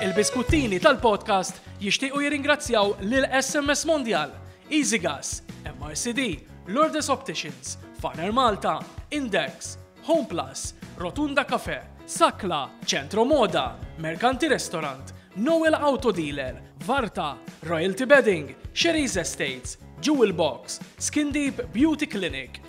Il-biskuttini tal-podcast jixtiequ jirringrazzjaw lil SMS Mondial, Easy Gas, MRCD, Lourdes Opticians, Farner Malta, Index, Home Plus, Rotunda Cafe, Sakla, Centro Moda, Mercanti Restaurant, Noel Auto Dealer, Varta, Royalty Bedding, Sherry's Estates, Jewel Box, Skin Deep Beauty Clinic,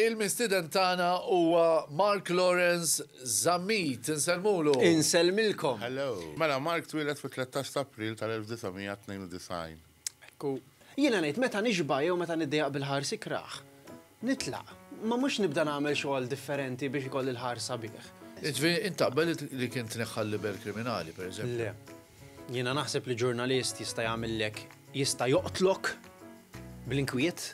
Il-mistieden tagħna huwa Mark Lawrence Zammit. Insellmulu. Insellmilkom. Hello. Mela, Mark twieled fit-tlettax ta' April tal-1992. Hekk hu. Jiena ngħid meta nixba' jew meta niddejjaq bil-ħars ikrah nitlaq. Ma mhux nibda nagħmel xogħol differenti biex ikolli l-ħars sabiħ. Jiġifieri int taqbel li kien tneħħa l-libell kriminali, pereżempju? Le. Jiena naħseb li ġurnalist jista' jagħmillek, jista' joqtlok bl-inkwiet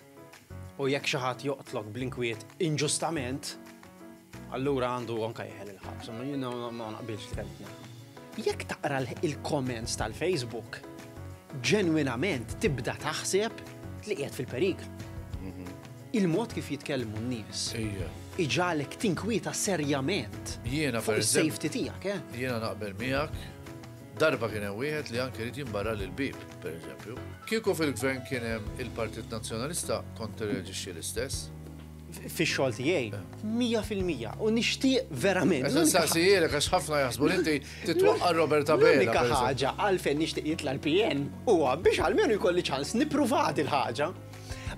u jekk xi ħadd joqtlok bl-inkwiet inġustament, allura għandu anke jeħel il-ħabs. Jiena ma naqbilx li kelli Jekk taqra il-comments tal-Facebook, ġenwinament tibda taħseb li qiegħed fil-periklu. Mhm. Il-mod kif jitkellmu n-nies. Ija. Iġagħlek tinkwieta serjament. Jiena per. Fuq is-safety tiegħek, eh? Jiena naqbel miegħek. Darba kien hemm wieħed li anke rid jinbarra lil bib, per eżempju. Kieku fil-gvern kien hemm il-Partit Nazzjonalista kont tirreaġixxi l-istess? fix-xogħol tiegħi. Eh. Mija fil-mija. U nixtieq verament. Eżan saqsijilek għax ħafna jaħsbu li inti titwaqqa Robert Abela. L-unika ħaġa għalfejn nixtieq jitla l-PN huwa biex għalmenu jkolli ċans nippruvat il-ħaġa.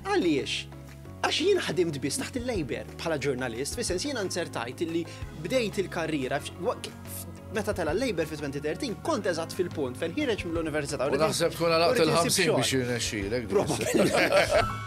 Għaliex? Għax jien ħdimt biss taħt il-Labor bħala ġurnalist, fis sens jiena nzertajt illi bdejt il-karriera meta tela l-Labor fi 2013 kont eżatt fil-punt fejn ħireġ mill-Università. U naħseb tkun għalaqt il-50 biex jirnexxilek. Probabilment.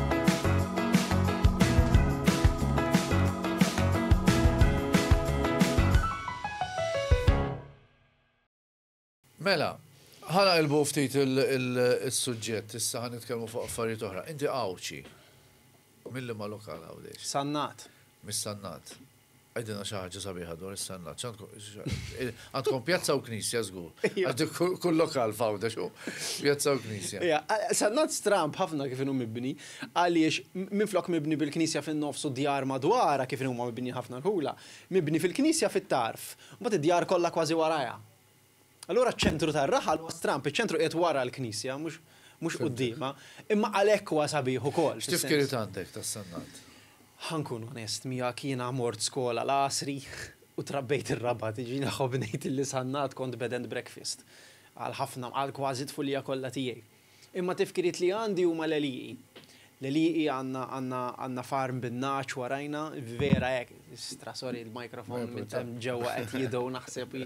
Mela, ħana ilbu ftit il-sujġet, issa ħan nitkellmu fuq affarijiet oħra. Inti għawċi, mill ma lokal għawdex? Sannat. Mis-sannat. Għidilna xi ħaġa sabiħa dwar is-Sennat. Għandkom pjazza u knisja żgur. Kull lokal fawda xu pjazza u knisja. Sennat stramb ħafna kif inhu mibni għaliex minflok mibni bil-knisja fin-nofs u d-djar madwarha kif inhuma mibnijin ħafna l-Ħula, mibni fil-knisja fit-tarf, mbagħad id-djar kollha kważi warajha. Allura ċ-ċentru tar-raħal huwa stramb, iċ-ċentru qiegħed wara l-knisja, mhux mhux quddiemha, imma għalhekk huwa sabiħ ukoll. X'tip spirit għandek tas-sannat? Ħa nkun onest miegħek, jiena mort skola l-Għasri u trabbejt ir-Rabat, jiġifieri nħobb ngħid li sannat kont bed and breakfast għal ħafna, għal kważi t-tfulija kollha tiegħi. Imma tifkiriet li għandi huma l-għelieqi. L-għelieqi għandna, għandna, għandna farm bin-nagħaġ warajna, vera hekk, stra sorry l-microphone minn ta' ġewwa qed jidgħu naħseb.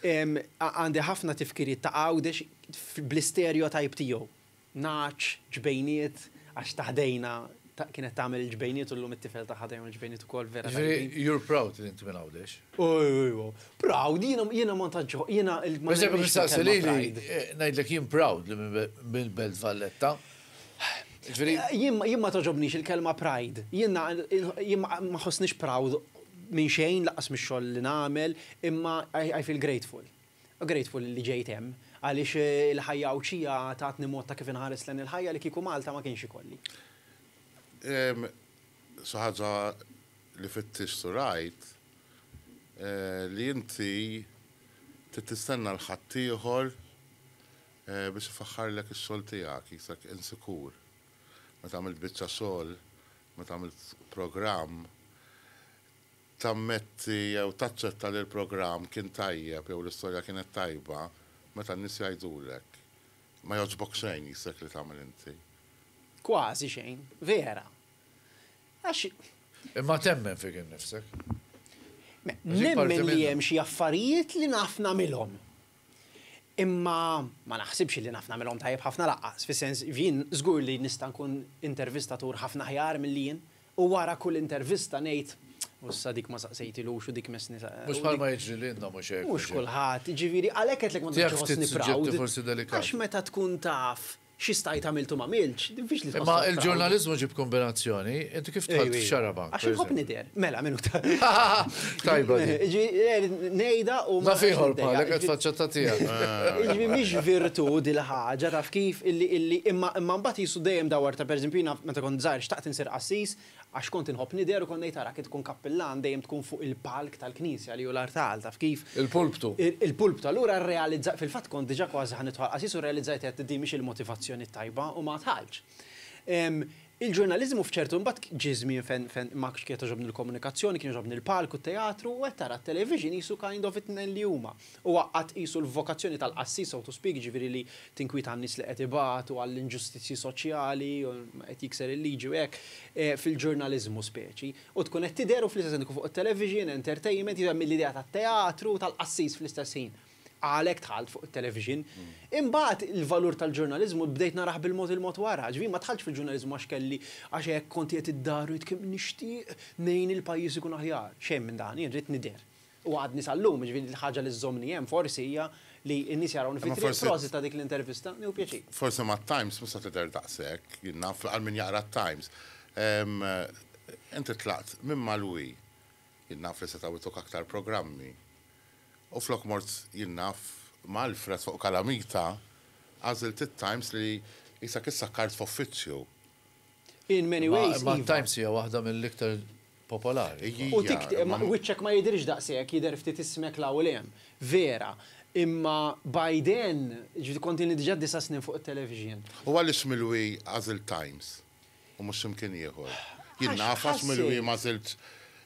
Għandi ħafna tifkiriet ta' Għawdex bl-istereotype tiegħu. Nagħaġ, ġbejniet, għax ta' ħdejna Kienet tagħmel il-ġbejniet u llum it-tifel tagħha tagħmel il-ġbejniet ukoll vera. Jiġifieri you're proud li inti minn Għawdex? Ejwa, proud, jiena ma tantx jiena il Per eżempju nistaqsi lili eh, ngħidlek jien proud li minn Belt Valletta. Jiġifieri eh, jien ma toġobnix il-kelma pride. Jiena jien ma ħossnix proud minn xejn laqas mix-xogħol li nagħmel, imma I feel grateful. Grateful li ġejt hemm, għaliex il-ħajja Għawdxija tatni mod ta' kif inħares lejn il-ħajja li kieku Malta ma kienx ikolli. Xi ħaġa li fittixt u rajt li inti trid tistenna 'l ħaddieħor biex ifaħħarlek ix-xogħol tiegħek, qisek insikur meta għamilt biċċa xogħol, meta għamilt programm. tammetti jew taċċetta li l-programm kien tajjeb jew l-istorja kienet tajba meta n-nies jgħidulek, Ma jogħġbok xejn qisek li tagħmel inti. Kważi xejn. Vera. Għax. Imma temmen fik innifsek. Nemmen li hemm xi affarijiet li naf nagħmilhom. Imma ma naħsibx li naf nagħmilhom tajjeb ħafna lanqas, fis-sens jien żgur li nista' nkun intervistatur ħafna aħjar milli jien, U wara kull intervista ngħid, U issa dik ma saqsejtilux u dik messni sa. Mhux bħalma jiġri lilna, mhux hekk? Mhux kulħadd, jiġifieri għalhekk għedtlek ma tantx iħossni proud. Għax meta tkun taf xi stajt għamilt u m'għamiltx, diffiċli tħossok proud. Imma il-ġurnaliżmu jġib kombinazzjoni, inti kif dħalt f'Xarabank? Għax inħobb nidher. Mela, minuta. Tajba din. Jiġifieri ngħidha u. Naf ieħor bħalek qed faċċetta tiegħek. Jiġifieri mhix virtù dil-ħaġa taf kif illi imma mbagħad qisu dejjem dawwar ta' pereżempju jiena meta kont żgħir xtaqt Nsir qassis għax kont inħobb nidher u kont ngħid arak int tkun kappillan dejjem tkun fuq il-palk tal-knisja li hu l-artal, taf kif? Il-pulptu. Il-pulptu. Allura rrealizzajt, fil-fatt kont diġà kważi ħa nidħol qassis u rrealizzajt għedt din mhix il-motivazzjoni t-tajba u ma dħaltx. Il-ġurnaliżmu f'ċertu imbagħad ġie żmien fejn fejn ma kienet togħġobni l-komunikazzjoni, kien jogħġobni l-palk u t-teatru u għedt ara t-television qisu kind of it-tnejn li huma. Huwa qatt qisu l-vokazzjoni tal-qassis, so to speak, jiġifieri li tinkwieta għan-nies li qed ibatu, għall-inġustizzji soċjali, qed jikser il-liġi u hekk, fil-ġurnaliżmu speċi. U tkun qed tidher u fl-istess ħin tkun fuq it-television, entertainment, jiġifieri hemm l-idea tat-teatru, tal-qassis fl-istess ħin. Għalhekk dħalt fuq it-television. Imbagħad il-valur tal-ġurnaliżmu bdejt narah bil-mod il-mod wara. Jiġifieri ma dħaltx fil-ġurnaliżmu għax kelli, għax hekk kont qiegħed id-dar u għidt kemm nixtieq ngħin il-pajjiż ikun aħjar. Xejn minn dan, jien ridt nidher. U għadni sal-lum, jiġifieri l-ħaġa li żżommni hemm forsi hija li n-nies jarawni fit-triq. Prosit ta' dik l-intervista, nieħu pjaċir. Forsi mat-Times mhux se tidher daqshekk, jien naf, għal min jaqra t-Times. Inti tlaqt minn Malwi, jien naf li setgħu jtuk aktar programmi. U flok mort, jien naf, ma' Alfred fuq Kalamita, għażilt it-Times li qisek issakkart f'uffiċċju. In many ways, iva. Imma t-Times hija waħda mill-iktar popolari. U tikt imma wiċċek ma jidhirx daqshekk, jidher ftit ismek 'l hawn u 'l hemm. Vera. Imma Biden, jiġifieri kontilni diġà disa' snin fuq it-television. U għaliex Milwi għażilt Times u mhux x'imkien ieħor? Jien naf għax Milwi m'għażiltx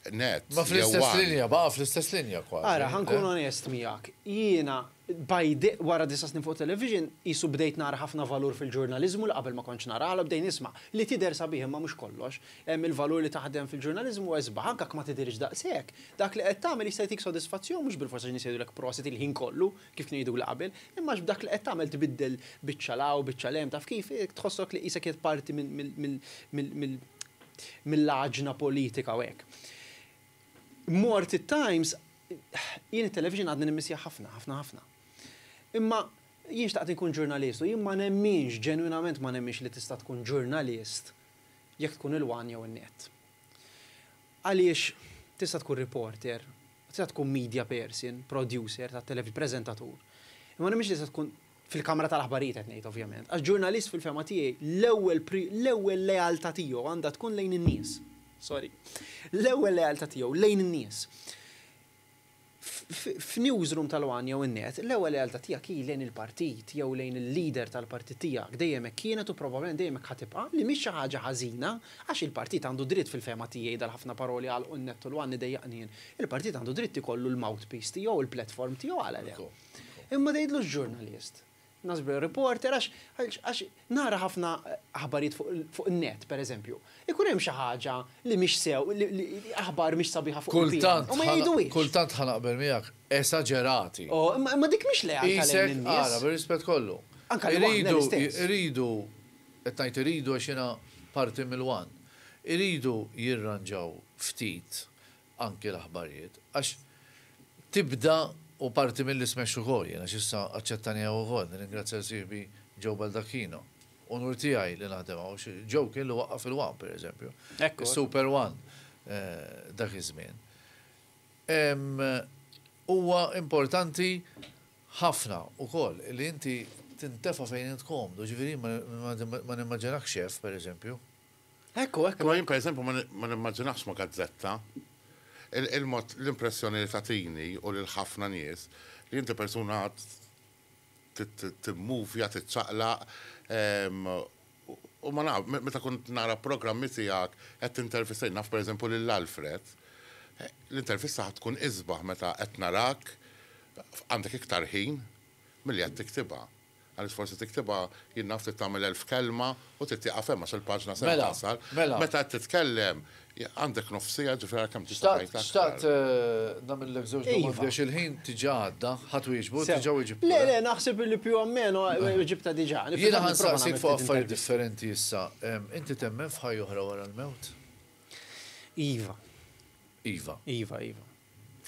Net jew One. Ma fl-istess linja, baqa' fl-istess linja kważi. Ara, ħa nkun onest miegħek, jiena Bajde, Wara disa' snin fuq television, qisu bdejt nara ħafna valur fil-ġurnaliżmu li qabel ma kontx nara, għala bdejt nisma', li tidher sabiħ imma mhux kollox. Hemm il-valur li taħdem fil-ġurnaliżmu huwa isbaħ, anke jekk ma tidhirx daqshekk. Dak li qed tagħmel jista' jtik sodisfazzjon mhux bilfors għax in-nies jgħidulek prosit il-ħin kollu, kif kienu jgħiduli qabel, imma għax b'dak li qed tagħmel tbiddel biċċa 'l hawn, biċċa 'l hemm, taf kif, tħossok li qisek qiegħed parti mill-għaġna politika u hekk. Mort it-Times, jien it-television għadni nimmissjah ħafna, ħafna ħafna. Imma jien xtaqt inkun ġurnalist u jien ma nemminx, ġenwinament ma nemminx li tista' tkun ġurnalist jekk tkun il-one jew in-net. Għaliex tista' tkun reporter, tista' tkun media person, producer tat-television, preżentatur, imma ma nemminx li tista' tkun fil-kamra tal-aħbarijiet qed ngħid ovvjament, għax ġurnalist fil-fehma tiegħi l-ewwel l-ewwel lealtà tiegħu għandha tkun lejn in-nies. Sorry. L-ewwel lealtà tiegħu lejn in-nies. F'newsroom tal-one jew in-net, l-ewwel lealtà tiegħek hi lejn il-partit jew lejn il-leader tal-partit tiegħek, dejjem hekk kienet u probabbilment dejjem hekk ħa tibqa', li mhix xi ħaġa ħażina, għax il-partit għandu dritt fil-fehma tiegħi dal-ħafna paroli għalqu n-net u l-one idejjaqni jien. Il-partit għandu dritt ikollu l-mouthpiece tiegħu, il-platform tiegħu għala le. Imma tgħidlux ġurnalist. Nasbru reporter għax nara ħafna aħbarijiet fuq in-net, pereżempju. Ikun hemm xi ħaġa li mhix sew, li aħbar mhix sabiħa fuq il-PN. U ma jgħiduhiex. Kultant ħa naqbel miegħek, esaġerati. O, imma dik mhix lealtà lejn in-nies. Qisek, ara, bir-rispett kollu. Anke lejn in-nies. Iridu, iridu, qed ngħid iridu għax jiena parti mill-one. Iridu jirranġaw ftit anki l-aħbarijiet għax tibda u parti milli smex ukoll jien għax issa aċċettani hawn ukoll nirringrazzja lil sieħbi Joe Baldacchino. Unur tiegħi li naħdem hawn għax Joe kien li waqqaf il-one per eżempju. Is-super one dak iż-żmien. Huwa importanti ħafna ukoll li inti tintefa' fejn int komdu ġifieri jien ma nimmaġinakx xef per eżempju. Ekku, ekku. Imma jien pereżempju ma nimmaġinax ma' gazzetta. Il-mod, l-impressjoni li tagħtini u lil ħafna nies, li inti persuna għad timmuvja, tiċċaqlaq, u ma naf, meta kont nara programmi tiegħek qed tintervista, naf pereżempju lil Alfred, l-intervista ħa tkun isbaħ meta qed narak, għandek iktar ħin, milli qed tiktibha. Għaliex forsi tiktibha, jien naf trid tagħmel elf kelma u trid tieqaf hemm għax il-paġna se tasal. Meta qed titkellem għandek nofs siegħa ġifieri għalhekk hemm tista' tgħid aktar. Xtaqt nagħmillek żewġ domandi għax il-ħin diġà għadda. Ħa twieġbu? Diġà weġibtlu. Le, le, naħseb li più o meno weġibtha diġà. Jiena ħa nsaqsik fuq affarijiet differenti issa. Inti temmen f'ħajja oħra wara l-mewt? Iva. Iva. Iva, iva.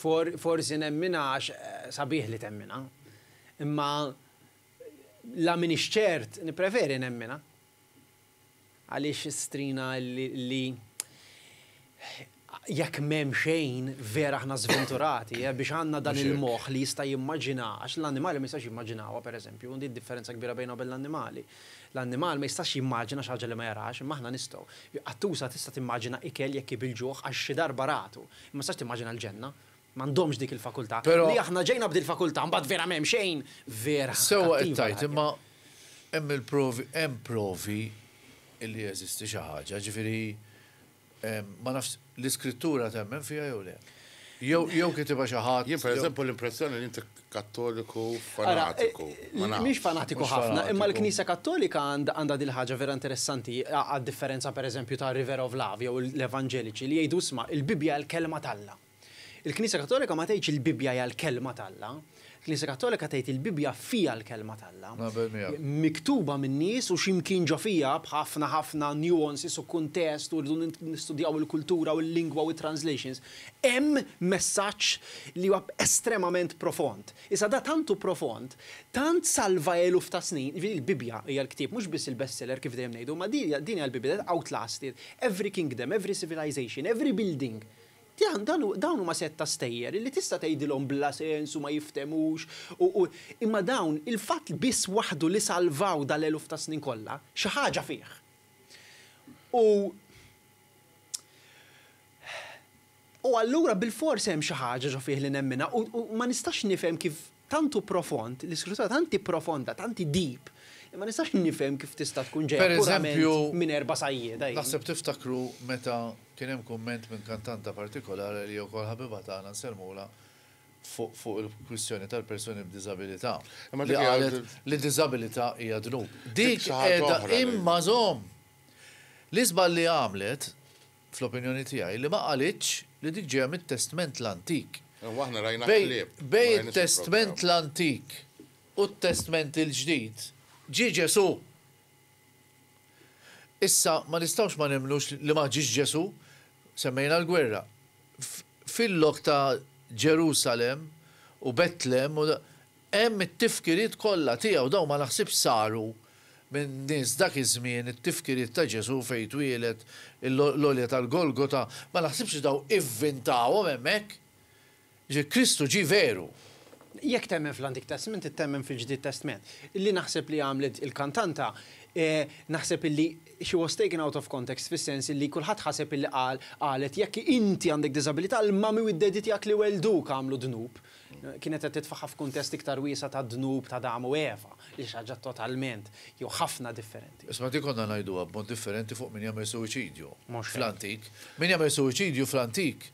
Forsi nemminha għax sabiħ li temminha. Imma la m'iniex ċert, nippreferi nemminha. Għaliex strina li jekk m'hemm xejn, vera aħna żventurati biex għandna dan il-moħħ li jista' jimmaġina, għax l-annimali ma jistax jimmaġinawha, pereżempju, u din id-differenza kbira bejna u bejn l-annimali. L-annimal ma jistax jimmaġina xi ħaġa li ma jarax, imma aħna nistgħu. Qattusa tista' timmaġina ikel jekk hi bil-ġuħ għax xi darba ratu. Ma tistax timmaġina l-ġenna. M'għandhomx dik il-fakultà. Li aħna ġejna b'dil fakultà, mbagħad vera m'hemm xejn. Vera ħa Sewwa qed tgħid, imma hemm il-provi, hemm provi li jeżisti xi ħaġa, ġifieri ma nafx l-Iskrittura temmen fiha jew le? Jew kitibha xi ħadd, jew. Jien pereżempu l-impressjoni li inti Kattoliku fanatiku. Mhix fanatiku ħafna, imma l-Knisja Kattolika għandha din il-ħaġa vera interessanti, għad-differenza pereżempju ta' River of Love jew l-Evanġeliċi li jgħidu isma' il-Bibbja hija l-Kelma t'Alla. Il-Knisja Kattolika ma tgħidx il-Bibbja hija l-Kelma t'Alla. Il-Knisja Kattolika tgħid il-Bibbja fiha l-Kelma t'Alla. Miktuba minn nies u xi mkien ġo fiha b'ħafna ħafna nuances u kuntest u rridu nistudjaw il-kultura u l-lingwa u t-translations. Hemm messaġġ li huwa estremament profond. Iżda da tant hu profond, tant salva eluf ta' snin, jiġifieri l-Bibbja hija l-ktieb mhux biss il-bestseller kif dejjem ngħidu, imma din din hija l-Bibbja that outlasted every kingdom, every civilization, every building. Dan dan hu dawn huma sett ta' stejjer illi tista' tgħidilhom bla sens u ma jifthemux u u imma dawn il-fatt li biss waħdu li salvaw dal-eluf ta' snin kollha xi ħaġa fih. U U allura bilfors hemm xi ħaġa ġo fih li nemminha u ma nistax nifhem kif tant hu profond, l-Iskrittura tant hi profonda, tant hi deep, li ma nistax nifhem kif tista' tkun ġejja purament minn erba' sajjieda. Naħseb tiftakru meta kien hemm kumment minn kantanta partikolari li hija wkoll ħabiba tagħna nsellmulha fuq il-kwistjoni tal-persuni b'diżabilità li qalet li diżabilità hija dnub. Dik qiegħda imma żomm! L-iżball li għamlet, fl-opinjoni tiegħi, li ma qalitx li dik ġejja mit-Testment l-Antik. Imma aħna rajna qlieb. Bejn it-Testment l-Antik u t-Testment il-Ġdid, ġie Ġesù. Issa, ma nistgħux ma nemmnux li ma ġiex Ġesù. Semmejna l-gwerra. Fil-lok ta' Ġerusalemm u Betlem u. Hemm it-tifkiriet kollha tiegħu, dawn ma naħsibx saru minn nies dak iż-żmien, it-tifkiriet ta' Ġesù fejn twieled, l-għolja tal-Golgota, ma naħsibx li dawn ivvintahom hemmhekk. Jiġifieri Kristu ġie veru. Jekk temmen fl-Antik Testment trid temmen fil-Ġdid Testment. Li naħseb li għamlet il-kantanta, naħseb illi she was taken out of context fis-sens illi kulħadd ħaseb illi qal, qalet jekk inti għandek diżabilità l-mami u d-daddy tiegħek li wellduuk għamlu dnub. Kienet qed titfagħha f'kuntest iktar wiesa' tad-dnub t'Adam u Eva, li xi ħaġa totalment, jew ħafna differenti. Isma' din konna ngħiduha b'mod differenti fuq min jagħmel suwiċidju fl-antik. Min jagħmel suwiċidju fl-antik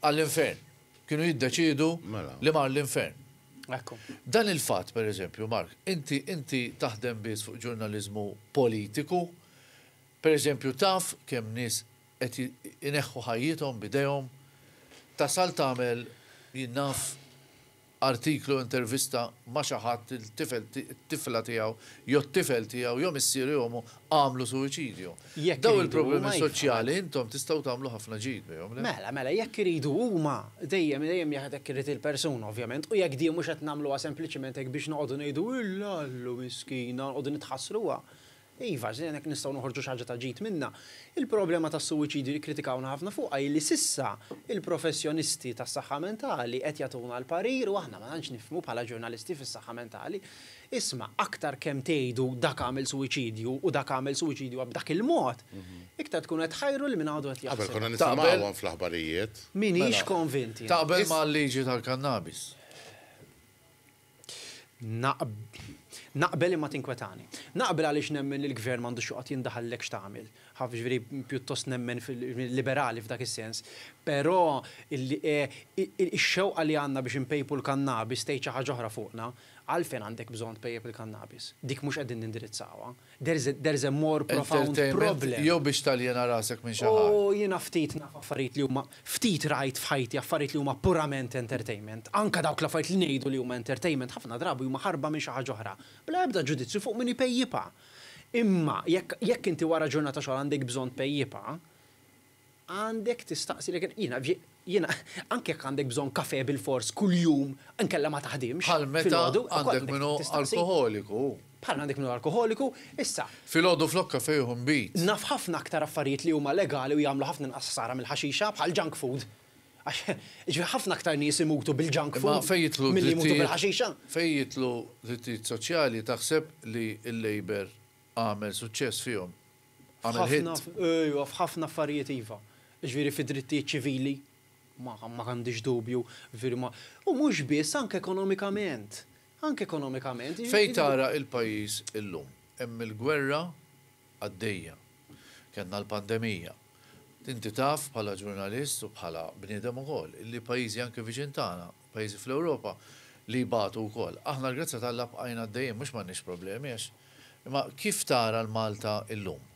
għall-infern. Kienu jiddeċiedu li mar l-infern. Dan il-fatt, per eżempju, Mark, inti inti taħdem biss fuq ġurnaliżmu politiku, per eżempju taf kemm nies qed ineħħu ħajjithom b'idejhom, tasal tagħmel, jien naf, artiklu, intervista ma' xi ħadd il-tifel, it-tifla tiegħu jew t-tifel tiegħu jew missieru jew ommu għamlu suwiċidju. Dawn il-problemi soċjali intom tistgħu tagħmlu ħafna ġid bihom, le? Mela, mela, jekk iridu huma, dejjem, dejjem jekk hekk irid il-persuna ovvjament, u jekk din mhux qed nagħmluha sempliċiment hekk biex noqogħdu ngħidu, Illa, Allu, miskina, u noqogħdu nitħassruha, Iva, żin hekk nistgħu noħorġu xi ħaġa ta' ġid minnha. Il-problema tas-suwiċidju li kkritikawna ħafna fuqha hi li s'issa il-professjonisti tas-saħħa mentali qed jagħtuna l-parir u aħna ma tantx nifhmu bħala ġurnalisti fis-saħħa mentali. Isma', aktar kemm tgħidu dak għamel suwiċidju u dak għamel suwiċidju b'dak il-mod, iktar tkunu qed tħajru lil min għadu qed jaħseb. Qabel konna nisimgħuhom fl-aħbarijiet. M'iniex konvint jien. Taqbel mal-liġi tal-kannabis? Naqbel imma tinkwetani. Naqbel għaliex nemmen li l-Gvern m'għandux joqgħod jindaħal lek x'tagħmel. Ħaf jiġifieri pjuttost nemmen fil, liberali f'dak is-sens. Però ix-xewqa li għandna biex inpejpu l-kannabis tgħid xi ħaġa oħra fuqna. Għalfejn għandek bżonn tpejjep il-kannabis? Dik mhux qegħdin nindirizzawha. There is there is a more profound problem. Entertainment jew biex taljena rasek minn xi ħadd. O jiena ftit naf affarijiet li huma, ftit rajt f'ħajti affarijiet li huma purament entertainment. Anke dawk l-affarijiet li ngħidu li huma entertainment ħafna drabi huma ħarba minn xi ħaġa oħra. Bla ebda ġudizzju fuq min ipejjipha. Imma jekk jekk inti wara ġurnata xogħol għandek bżonn tpejjipha, Għandek tistaqsi lilek innifsek, jiena, jiena, anke jekk għandek bżonn kafè bilfors kuljum inkella ma taħdimx filgħodu. Bħal meta għandek min hu alkoħoliku. Bħal għandek min hu alkoħoliku, issa. Filgħodu flok kafè jieħu nbid. Naf ħafna aktar affarijiet li huma legali u jagħmlu ħafna inqas ħsara mill-ħaxixa, bħal junk food. Għax, jiġifieri ħafna aktar nies imutu bil-junk food milli jmutu bil-ħaxixa. Fejn jidħlu drittijiet soċjali taħseb li l-Labour Għamel suċċess fihom. Għamel hit. Ejwa, f'ħafna affarijiet iva. Jiġifieri fid-drittijiet ċivili, ma għandix dubju, jiġifieri ma. U mhux biss, anke ekonomikament. Anke ekonomikament. Fejn tara l-pajjiż illum? Hemm il-gwerra għaddejja. Kellna l-pandemija. Inti taf bħala ġurnalist u bħala bniedem ukoll li pajjiżi anke viċin tagħna pajjiżi fl-Ewropa li jbatu wkoll. Aħna l-grazzja t'Alla bqajna għaddejjin, mhux m'għandniex problemi għax imma kif tara l-Malta illum?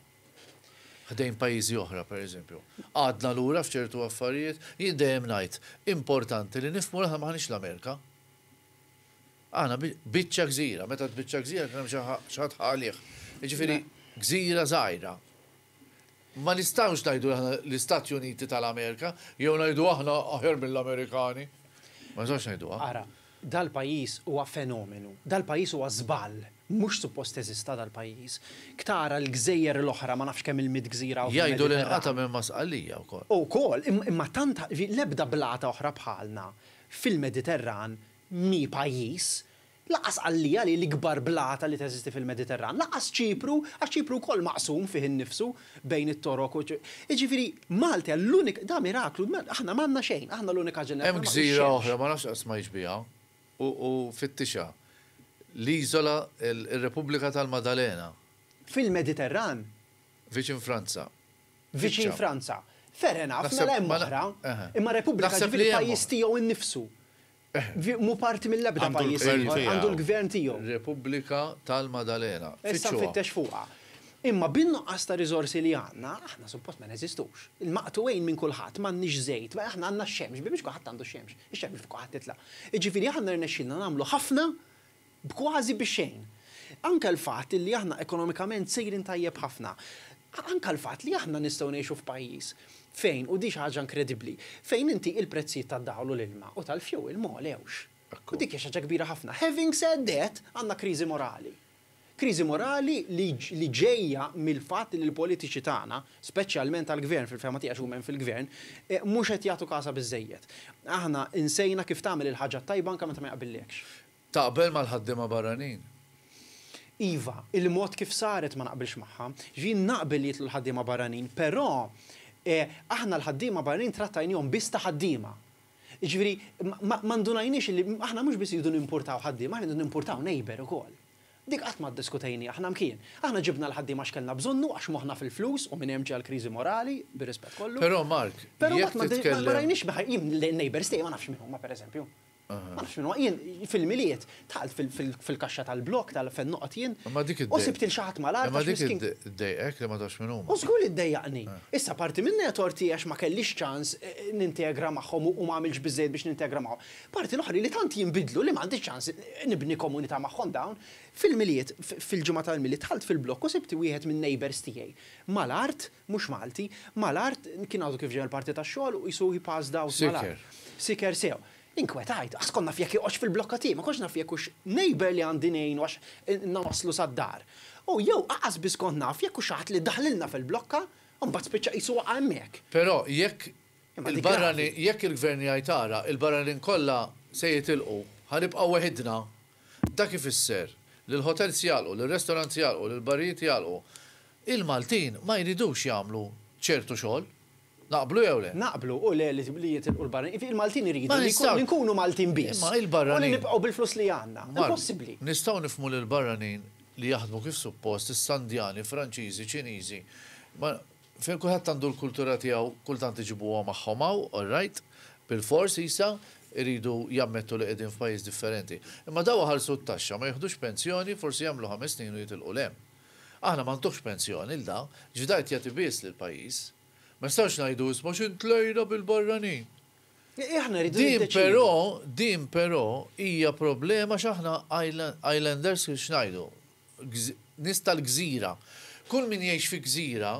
Ħdejn pajjiżi oħra pereżempju. Għadna lura f'ċertu affarijiet? Jien dejjem ngħid, importanti li nifhmu li aħna m'aħniex l-Amerika. Aħna biċċa gżira, meta għedt biċċa gżira kien hemm xi ħadd ħa għalih. Jiġifieri gżira żgħira. Ma nistgħux ngħidu li aħna l-Istati Uniti tal-Amerika, jew ngħidu aħna aħjar mill-Amerikani. Ma nistgħux ngħiduha. Ara, dal-pajjiż huwa fenomenu. Dal-pajjiż huwa żball. Mhux suppost teżista dal-pajjiż. Ktara l-gżejjer l-oħra, ma nafx kemm il-mitt gżira hawn fil-Mediterran. Jgħidu li nqata' minn Ma' Sqallija wkoll. Ukoll, imma tant l-ebda blata oħra bħalna fil-Mediterran mhi pajjiż. Lanqas Għalija li hi l-ikbar blata li teżisti fil-Mediterran. Lanqas Ċipru, għax Ċipru wkoll maqsum fih innifsu bejn it-Torok u. Jiġifieri, Malta hija l-unika, da miraklu, aħna m'għandna xejn, aħna l-unika ġenerazzjoni Hemm gżira oħra, ma nafx qatt smajtx biha, u fittixha, l-iżola, ir-Repubblika tal-Madalena. Fil-Mediterran? Viċin Franza. Viċin Franza. Fair enough, mela hemm oħra. Imma Repubblika jiġifieri pajjiż tiegħu nnifsu. Mhu parti mill-ebda pajjiż ieħor. Għandu l-gvern tiegħu. Repubblika tal-Maddalena. Issa nfittex fuqha. Imma bin-nuqqas ta' riżorsi li għandna, aħna suppost ma neżistux. Il-maqtugħin minn kulħadd, m'għandniex żejt, aħna għandna x-xemx, biex kulħadd għandu x-xemx. Ix-xemx fuq kulħadd titlaq. Jiġifieri aħna rnexxielna nagħmlu ħafna b'kważi bi xejn. Anke l-fatt illi aħna ekonomikament sejrin tajjeb ħafna, anke l-fatt li aħna nistgħu ngħixu f'pajjiż fejn, u din xi ħaġa inkredibbli, fejn inti il-prezzijiet tad-dawl u l-ilma u tal-fuel ma għolewx. U dik hija xi ħaġa kbira ħafna. Having said that, għandna kriżi morali. Kriżi morali li li ġejja mill-fatt li l-politiċi tagħna, speċjalment tal-Gvern, fil-fehma tiegħi għax huma hemm fil-Gvern, mhux qed jagħtu kasha biżżejjed. Aħna nsejna kif tagħmel il-ħaġa t-tajba anke meta ma jaqbilliekx. Taqbel mal-ħaddiema barranin? Iva, il-mod kif saret ma naqbilx magħha. Jiġifieri naqbel li jidħlu l-ħaddiema barranin, però aħna l-ħaddiema barranin trattajnihom biss ta' ħaddiema. Jiġifieri ma ma ndunajniex li aħna mhux biss irridu nimpurtaw ħaddiema, aħna rridu nimpurtaw neighbour ukoll. Dik qatt ma ddiskutejniha aħna mkien. Aħna ġibna l-ħaddiema għax kellna bżonnu, għax moħħna fil-flus u minn hemm ġie l-kriżi morali, bir-rispett kollu. Però Mark, jekk titkellem. Ma rajniex b'ħajr, jien l-neighbours tiegħi ma nafx min huma pereżempju. Ma nafx min huma. Jien fil-Milied dħalt fil-kaxxa tal-blokk tal fejn noqgħod jien u sibt lil xi ħadd mal-art għax miskin. Imma dik iddejqek li ma tafx min huma. U żgur li ddejjaqni. Issa parti minnha hija tort tiegħi għax ma kellix ċans nintegra magħhom u ma għamiltx biżżejjed biex nintegra magħhom. Parti l-oħra li tant jinbidlu li m'għandix ċans nibni komunità magħhom dawn. Fil-Milied, fil-ġimgħa tal-Milied dħalt fil-blokk u sibt wieħed min-neighbours tiegħi. Mal-art, mhux Malti, mal-art, kien għadu kif ġej mill-parti tax-xogħol u qisu he passed out mal-art. Siker. Siker sew. Inkwetajt, għax kont naf jekk joqgħodx fil-blokka tiegħi, ma kontx naf jekk hux neighbour li għandi ngħinu għax ilna waslu sad-dar. U jew aqas biss kont naf jekk hux xi ħadd li daħlilna fil-blokka u mbagħad spiċċa qisu waqa' hemmhekk. Però jekk Il-barra li, jekk il-Gvern jgħid ara, il-barra li nkollha se jitilqu, ħa nibqgħu weħidna, dak ifisser li l-hotels jagħlqu, li r-restaurants jagħlqu, li l-barijiet jagħlqu. Il-Maltin ma jridux jagħmlu ċertu xogħol. Naqblu jew le? Naqblu u le li jitilqu l-barranin. Il-Maltin iridu li nkunu Maltin biss u li nibqgħu bil-flus li għandna. Impossibbli. Mark, nistgħu nifhmu li l-barranin li jaħdmu kif suppost, is-Sandjani, Franċiżi, Ċiniżi, ma. Fejn kulħadd għandu l-kultura tiegħu kultant iġibuha magħhom hawn, all right, bilfors isa jridu jammettu li qegħdin f'pajjiż differenti. Imma dawn iħallsu t-taxxa, ma jiħdux pensjoni, forsi jagħmlu ħames snin u jitilqu 'l hemm. Aħna ma ntuhx pensjoni 'l da, ġdajt jagħti biss lill-pajjiż. Ma nistgħux ngħidu isma' x'int tlejna bil-barranin. Aħna rridu niddeċiedu. Din però, din però hija problema għax aħna islanders x'ngħidu? Nies tal-gżira. Kull min jgħix fi gżira,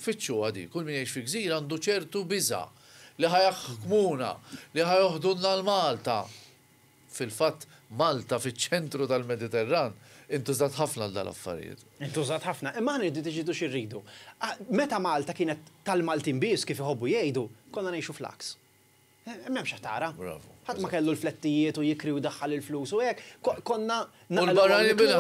fittxuha di, kull min jgħix fi gżira għandu ċertu biża' li ħa jaħkmuna, li ħa joħdunna 'l Malta. Fil-fatt, Malta fiċ-ċentru tal-Mediterran intużat ħafna għal dal-affarijiet. Intużat ħafna. Imma aħna rridu niddeċiedu xi rridu. Meta Malta kienet tal-Maltin biss, kif iħobbu jgħidu, konna ngħixu fl-għaks. M'hemmx ħtara. Bravu. Ħadd ma kellu l-flettijiet u jikri u jdaħħal il-flus u hekk. Konna naqilgħu hawn nikluha,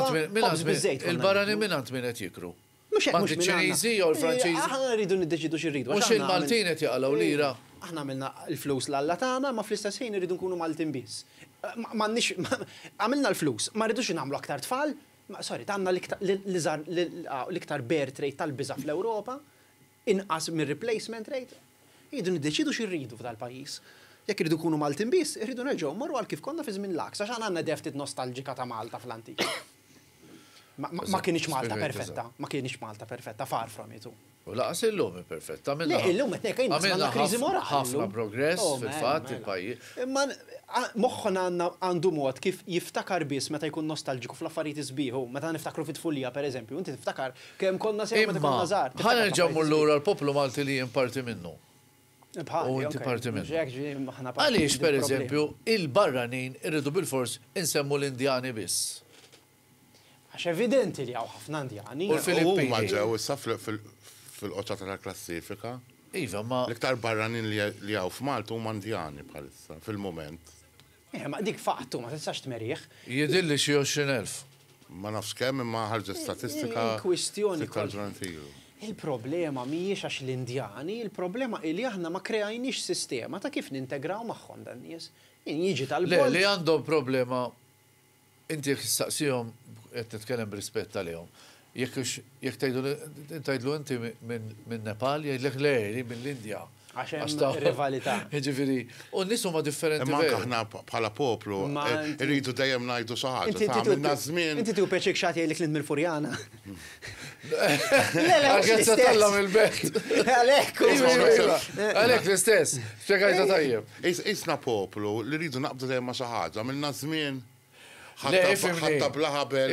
ħobż biż-żejt konna niklu. U l-barranin minn għand min qed jikru? Mhux hekk, mhux minn għandna. M'għand iċ-Ċiniżi jew il-Franċiżi? Aħna rridu niddeċiedu xi rridu. Mhux il-Maltin qed jaqalgħu lira? Aħna għamilna l-flus l-Alla tagħna, imma fl-istess ħin irridu nkunu Maltin biss. M'għandniex, għamilna l-flus, ma rridux nagħmlu aktar tfal? Sorry, għandna l-iżgħar, l-iktar bear trait tal-biża' fl-Ewropa, inqas mir-replacement rate. Irridu niddeċiedu xi rridu f'dal-pajjiż. Jekk irridu nkunu Maltin biss, irridu nerġgħu mmorru għal kif konna fi żmien l-għaks, għax aħna għandna deftit nostalġika ta' Malta fl-antik. Ma kinitx Malta perfetta, ma kinitx Malta perfetta, far from it. U lanqas illum hi perfetta. Le, illum qed ngħid, inqas m'għandna kriżi morali. Għamilna ħafna progress fil-fatt il-pajjiż. Imma moħħna għandu mod kif jiftakar biss meta jkun nostalġiku fl-affarijiet is-sbieħ. Hu, meta niftakru fit-tfulija, pereżempju, inti tiftakar Kemm konna sewwa meta konna żgħar. Imma, ħa nerġa' mmur lura l-poplu Malti li jien parti minnu. Bħali, u inti parti minnu. Għaliex, per eżempju, il-barranin irridu bilfors insemmu l-Indjani biss? Għax evidenti li hawn ħafna Indjani. U l-Filippini. Huma ġew issa fil-quċċata tal-klassifika. Iva, imma. L-iktar barranin li hawn f'Malta huma Indjani bħalissa, fil-mument. Eħe, ma dik faqtu, ma tistax tmerih. Jidhirli xi għoxrin elf. Ma nafx kemm imma ħarġet statistika sitt ta' ġranet ilu. Il-problema mhijiex għax l-Indjani, il-problema hi li aħna ma kreajniex sistema ta' kif nintegraw magħhom dan-nies. Min jiġi tal-Belt. Le, li għandhom problema Inti jekk tistaqsihom, qed nitkellem b'rispett għalihom, jekk hux, jekk tgħidlu, tgħidlu inti minn Nepal, jgħidlek le, jien mill-Indja. Għax hemm rivalità. Jiġifieri, u n-nies huma differenti. Imma anke aħna bħala poplu rridu dejjem ngħidu xi ħaġa. Inti għamilna ż-żmien. Inti tieħu pjaċir xi ħadd jgħidlek li int mill-Furjana. Għalkemm se tgħallem il-belt. Għalhekk. Għalhekk l-istess. Spjegajtha tajjeb. Qisna poplu li rridu naqbdu dejjem ma' xi ħaġa. Għamilna żmien ħatta bla ħabel,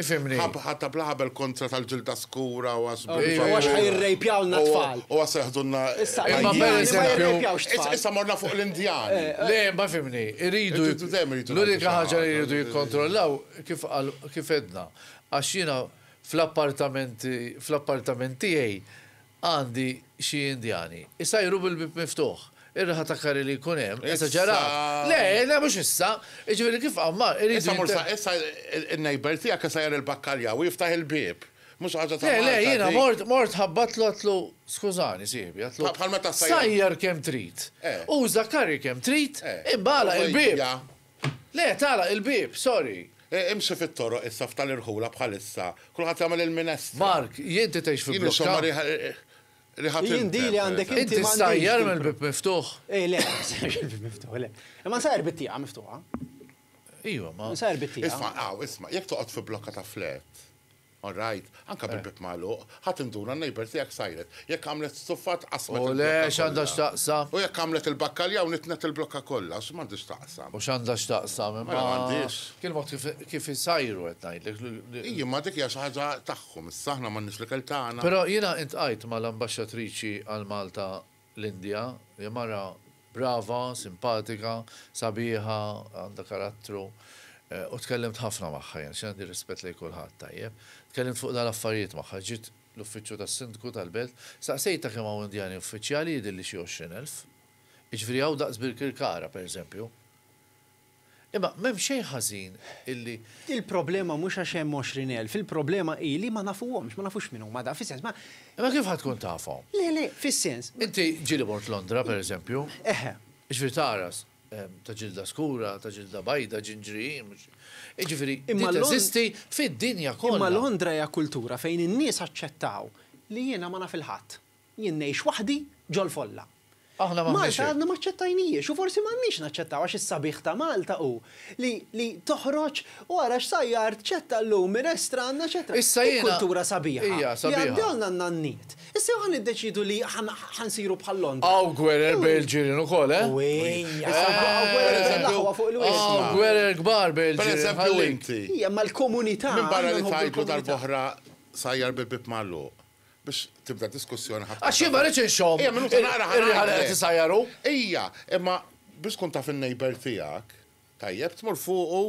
ħatta bla ħabel kontra tal-ġilda skura u għax bla ħabel. U għax ħa jirrejpjawlna t-tfal. U għax se jħdulna. Issa issa morna fuq l-Indjani. Le, ma fhimni. Irridu. L-unika ħaġa li jridu jikkontrollaw kif qal kif għedna. Għax jiena fl-appartament fl-appartament tiegħi, Għandi xi Indjani. Isajru bil-bieb miftuħ. Ir-raħa ta' curry li jkun hemm, esaġerat. Issa. Le, le, mhux issa. Jiġifieri kif Għammar irid jinter-. Issa mur sa, issa in-neighbour tiegħek isajjar il-bakkaljaw u jiftaħ il-bieb. Mhux xi ħaġa ta' Malta dik. Le, le, jiena mort, mort ħabbatlu għedtlu, skużani sieħbi, għedtlu. Bħal meta ssajjar. Sajjar kemm trid. Eh. Uża curry kemm trid. Eh. Imma għalaq il-bieb. Ovvja. Le, tagħlaq il-bieb, sorry. Imxi fit-toroq issa f'tal irħula bħalissa. Kulħadd jagħmel il-minestra. Mark, jien inti tgħix fi blokka? Jien insomma riħa tintef. Jien dili għandek inti m'għandix. Inti ssajjar mill-bieb miftuħ? Ej le, ma nsajjarx mill-bieb miftuħ, le. Imma nsajjar bit-tieqa miftuħa. Ejwa, ma. Nsajjar bit-tieqa. Isma', aw, isma', jekk toqgħod fi blokka ta' flat. All right, anke bil-bieb magħluq, ħa tinduna n-neighbour tiegħek sajret. Jekk għamlet stuffa tqassmet il-blokka kollha. U le, x'għandha x'taqsam? U jekk għamlet il-bakkaljaw nitnet il-blokka kollha, u x'm'għandha x'taqsam? U x'għandha x'taqsam, imma. Mela m'għandhiex. Kien il-mod kif isajru qed ngħidlek. Ii, imma dik hija xi ħaġa tagħhom, issa aħna m'għandniex l-ikel tagħna. Però jiena iltqajt mal-Ambaxxatriċi għal Malta L-Indja, hija mara brava, simpatika, sabiħa, għandha karattru, u tkellimt ħafna magħha jien, għax jien għandi rispett lejn kulħadd, tajjeb. Tkellimt fuq dal-affarijiet magħha, ġiet l-uffiċċju tas-Sindku tal-belt, staqsejtha kemm hawn Indjani uffiċjali, jidhirli xi għoxrin elf. Jiġifieri hawn daqs Birkirkara, pereżempju. Imma m'hemm xejn ħażin illi. Il-problema mhux għax hemm għoxrin elf, il-problema hi li ma nafuhomx, ma nafux min huma dawn, fis-sens, ma. Imma kif ħa tkun tafhom? Le, le, fis-sens. Inti ġieli mort Londra, per eżempju. Eħe. Jiġifieri tara ta' ġilda skura, ta' ġilda bajda, ġinġri, mhux. Jiġifieri din teżisti fid-dinja kollha. Imma Londra hija kultura fejn in-nies aċċettaw li jiena ma naf 'il ħadd. Jien ngħix waħdi ġol-folla. Malta għadna ma ċċettajnihiex u forsi m'għandniex naċċettaw għax is-sabiħ ta' Malta hu li li toħroġ u ara x'sajjar tċetta llum minn restrann eċetera. Hi kultura sabiħa li għaddewlna n-nanniet. Issa jew ħa niddeċiedu li ħa nsiru bħal Londra. Hawn gwerer bejn il-ġirien ukoll, eh? Uwejja! Issa nbaqgħu gwerer bejn l-aħwa fuq il-wied. Hawn gwerer kbar bejn il-ġirien. Pereżempju inti. Hi imma l-komunità. Minbarra li tgħidlu darb'oħra sajjar bil-bieb magħluq. biex tibda diskussjoni ħadd. Għax jien ma rridx inxomm. Ejja minuta naqra ħa. Ir-riħa li qed isajjaru. Ejja, imma biex tkun taf in-neighbour tiegħek, tajjeb, tmur fuqu,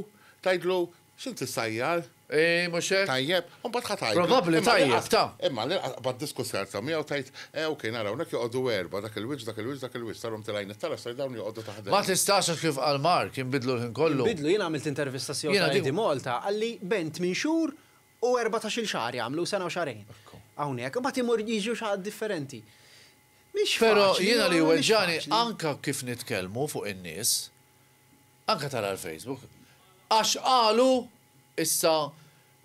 tgħidlu, x'int issajjar? Ii, mhux hekk? Tajjeb, u mbagħad ħa tgħidlu. Probabbli tajjeb, ta. Imma l-inqas qabad diskussjoni tibda miegħu tgħid, eh ok, nara hawnhekk joqogħdu erbgħa, dak il-wiċċ, dak il-wiċċ, dak il-wiċċ, saru mtil għajn it-tara ser dawn joqogħdu taħt dan. Ma tistax għax kif qal Mark, jinbidlu l-ħin kollu. Jinbidlu, jien għamilt intervista s-CEOtalk ID Malta, qalli bent minn xhur, u erbatax-il xahar jagħmlu, sena u xahrejn. Hawnhekk, imbagħad imur jiġu xi ħadd differenti. Mhix faċli. Però jiena li jweġġagħni anke kif nitkellmu fuq in-nies, anke tara l-Facebook, għax qalu issa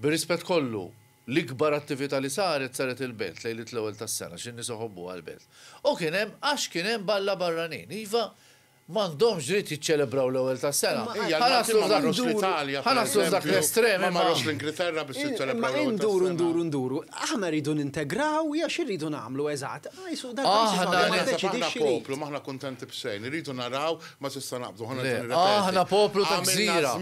bir-rispett kollu l-ikbar attività li saret saret il-Belt lejliet l-Ewwel tas-Sena x'in-nies iħobbuha l-Belt. U kien hemm għax kien hemm balla barranin. Iva, M'għandhomx dritt jiċċelebraw l-Ewwel tas-Sena. Ħa naslu f'dak l-estrem imma. Imma induru nduru nduru. Aħna rridu nintegraw jew xi rridu nagħmlu eżatt? Aħna poplu ta' gżira.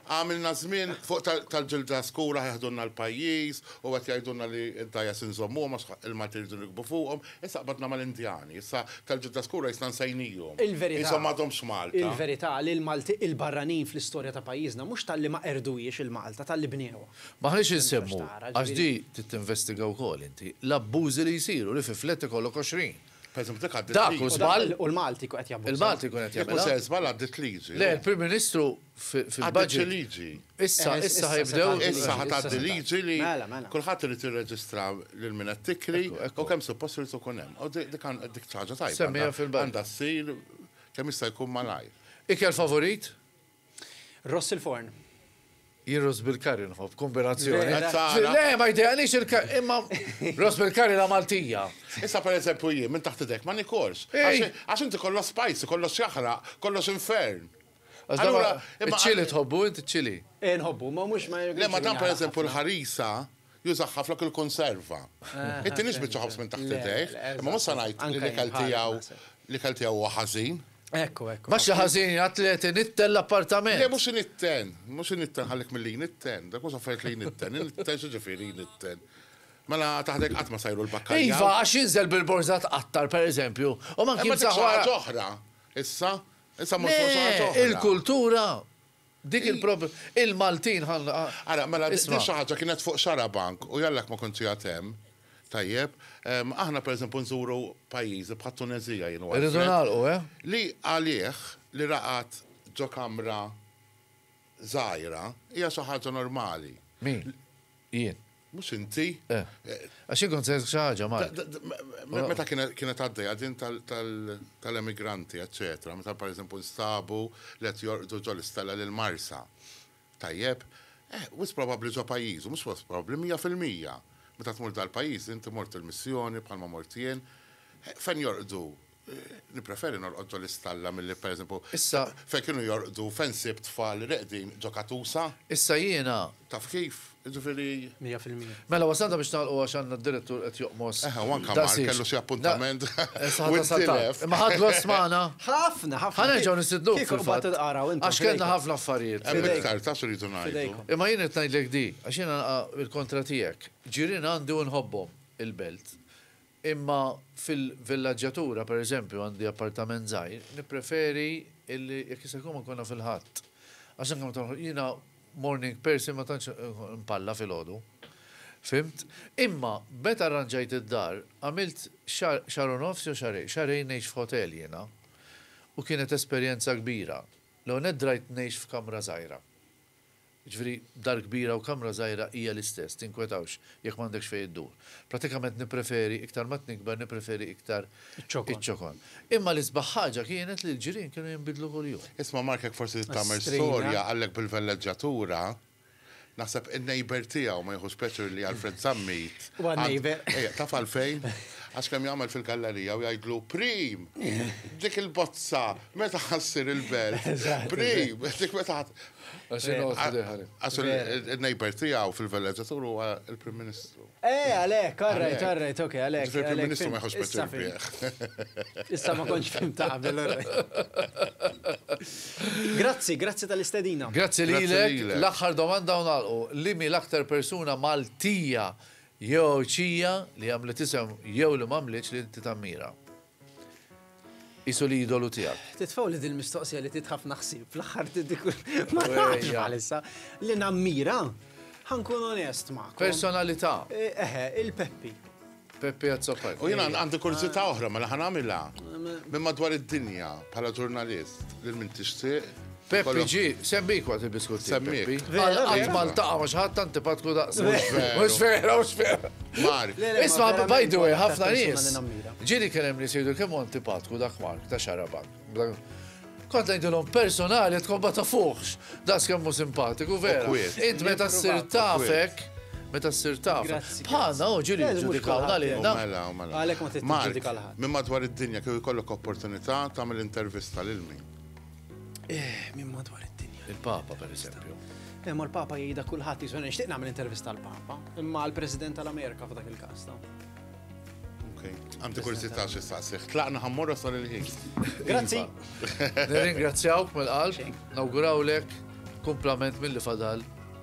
Għamilna żmien fuq tal-ġilda skura ħa jeħdulna l-pajjiż u qed jgħidulna li d-dgħajjes inżommuhom għax il-Maltin iridu nirkbu fuqhom. Issa qbadna mal-Indjani. Issa tal-ġilda skura qisna nsejnijhom. Qishom m'għadhomx Malta. Il-verità li l-Malti il-barranin fl-istorja ta' pajjiżna mhux talli ma qerduhiex il-Malta, talli bnewha. M'aħniex insemmu, għax di trid tinvestiga wkoll inti, l-abbużi li jsiru, li fi flat ikollok 20. Pereżempju dik għaddiet liġi. Dak hu żball. U l-Malti jkun qed jabbuża. Il-Malti jkun qed jagħmilha. Jekk mhux se żball għaddiet liġi. Le, il-Prim Ministru. fil-budget. liġi. Issa, eh, issa ħajbdew. Issa ħataddi liġi li mela, mela. kulħadd irid jirreġistra lil min qed tikri u kemm suppost irid ikun hemm. U dik dik ċaġa tajba. Semmija fil-budget. Għandha ssir kemm jista' jkun malajr. Ikel favorit? Ross il-forn. Jirros bil-kari nħob, kombinazzjoni. Le, ma jdejqanix il-kari, imma Ross bil-kari la Maltija. Issa per eżempju jien, minn taħt idek, ma nikorx. Għax inti kollox spicy, kollox jaħraq, kollox infern. Allura, imma ċili tħobbu inti ċili? Eh, nħobbu, ma mhux ma Le ma dan pereżempju l-ħarisa jużaħ ħafna kull konserva. Eh, inti nix biċċa ħobż minn taħt idejh, imma mhux se ngħid li l-ikel tiegħu l-ikel tiegħu huwa ħażin. Ekku, ekku. Bax ħażin atleti nitten l-appartament. Le mhux nitten, mhux nitten ħallik mill-li nitten, dak mhux affarijiet li nitten, nitten xi ġifieri nitten. Mela taħdek qatt ma sajru l-bakka. Iva, għax jinżel bil-borza tqattar, per eżempju. U ma kien saħħa. ġoħra, issa, Issa mmur fuq xi ħaġa oħra. Le, il-kultura, dik il-prob. Il-Maltin ħa. Ara, mela din xi ħaġa kienet fuq xarabank u jallak ma kontx qiegħed hemm, tajjeb, aħna pereżempju nżuru pajjiżi bħat-Tuneżija jien u Alfred. Irridu nagħlqu, eh? Li għalih li raqad ġo kamra żgħira hija xi ħaġa normali. Min? Jien. Mhux inti. Eh. Għax jien kont sejt xi ħaġa mar. Meta kienet għaddejja din tal-emigranti, eċċetera, meta pereżempju nstabu li qed jorqdu ġol istella lil Marsa. Tajjeb, eh, wis probabbli ġo pajjiżu, mhux wis probabbli mija fil-mija. Meta tmur dal-pajjiż, inti mort il-missjoni bħalma mort jien, eh, fejn jorqdu Nippreferi norqod ġo l-istalla milli, per eżempju, fejn kienu jorqdu, fejn sibt tfal reqdin ġo katusa. Issa jiena. Taf kif? Jiġifieri. Mija fil-mija. Mela wasalna biex nagħlqu għax għandna d-Direttur qed joqmos. Eħe, u anke Mark kellu xi appuntament. Issa ħa tasal tard. Imma ħadt gost magħna. Ħafna, ħafna. Ħa nerġgħu nistidnuk. Kieku mbagħad tilqaraw intom. Għax kellna ħafna affarijiet. Hemm iktar, taf x'irridu ngħidu. Imma jien qed ngħidlek din, għax jiena nilqa' bil-kontra tiegħek. Ġirien għandi u nħobbhom il-belt. Imma fil-villaġġatura, per eżempju, għandi appartament żgħir, nippreferi illi jekk jista' jkun ma nkunha fil-Ħadd. Għax anke meta noħroġ, jiena morning person ma tantx npalla filgħodu. Fhimt? Imma meta rranġajt id-dar, għamilt xahar, xahar u nofs jew xahrejn, xahrejn ngħix f'hotel jiena u kienet esperjenza kbira. L-ewwel nett drajt ngħix f'kamra żgħira. Jiġifieri, dar kbira u kamra żgħira hija l-istess, tinkwetawx jekk m'għandekx fejn iddur. Prattikament nippreferi, iktar ma tnikber, nippreferi iktar iċ-ċokon. Imma l-isbaħ ħaġa kienet li l-ġirien kienu jinbidlu kuljum. Isma' Mark hekk forsi trid tagħmel storja għalhekk bil-velleġġatura, naħseb in-neighbour tiegħu ma jieħux pjaċir li Alfred Zammit għandu taf għalfejn? Għax kemm jagħmel fil-gallerija u jgħidlu, Prim! Dik il-bozza meta ħa ssir il-belt? Prim! Dik meta Għax il-nejber tijaw fil-villagġatur u il-Prim Ministru. Eh, għalek, għarrajt, għarrajt, ok, għalek. Il-Prim Ministru ma jħox biex Issa ma konċ fim ta' qabel, Grazzi, grazzi tal-istedina. Grazzi li l-axħar domanda unalqu. Li mi l-aktar persuna Maltija jew ċija li għamlet isem jew li mamliċ li inti tammira? Qisu l-idolu tiegħek. Titfgħu li dil-mistoqsija li tit ħafna ħsieb fl-aħħar dik ma nafx bħalissa li nammira ħankun onest ma. Personalità. Eh, eħe, il-Peppi. Peppi Azzopaj. U jiena għandi kurżità oħra ma mela laħan għamilha. Minn madwar id-dinja bħala ġurnalist lil min tixtieq Peppi ġie, semmiek waqt il-biskut tiegħek. Semmiek. Vera, qatt ma ltaqa' ma' xi ħadd antipatku daqs. Mhux vera. Mhux vera, mhux vera. Mark. Isma' by the way, ħafna nies. Ġieli kien hemm nies jgħidu kemm antipatku dak Mark ta' xarabak. Kont ngħidilhom personali tkun ma tafuħx das kemm hu simpatiku vera. Int meta ssir tafek meta ssir taf. Bħalna u ġiri ġudikawna li Mela, mela. mela. Għalek ma titġudika l-ħadd. Minn madwar id-dinja kif ikollok opportunità tagħmel intervista lil min? Eh, minn madwar id-dinja. Il-Papa, per eżempju. Eh, ma l-Papa jgħida kulħadd jiżu nixtieq nagħmel intervista l-Papa, imma l-President tal-Amerika f'dak il-każ ta. Okay. Għamti kursità xi saqsiħ. Tlaqna ħammorra sal il-ħin. Grazzi. Iva. Nirringrazzjawk mill-qalb, nawgurawlek kumplament mill-li fadal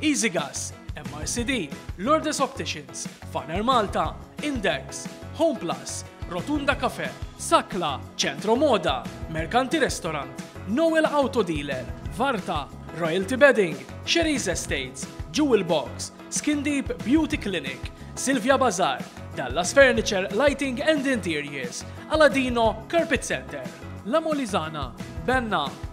Easygas, MRCD, Lourdes Opticians, Faner Malta, Index, Homeplus, Rotunda Cafe, Sakla, Centro Moda, Mercanti Restaurant, Noel Auto Dealer, Varta, Royalty Bedding, Sherry's Estates, Jewel Box, Skin Deep Beauty Clinic, Silvia Bazaar, Dallas Furniture Lighting and Interiors, Aladino Carpet Center, La Molizana, Benna,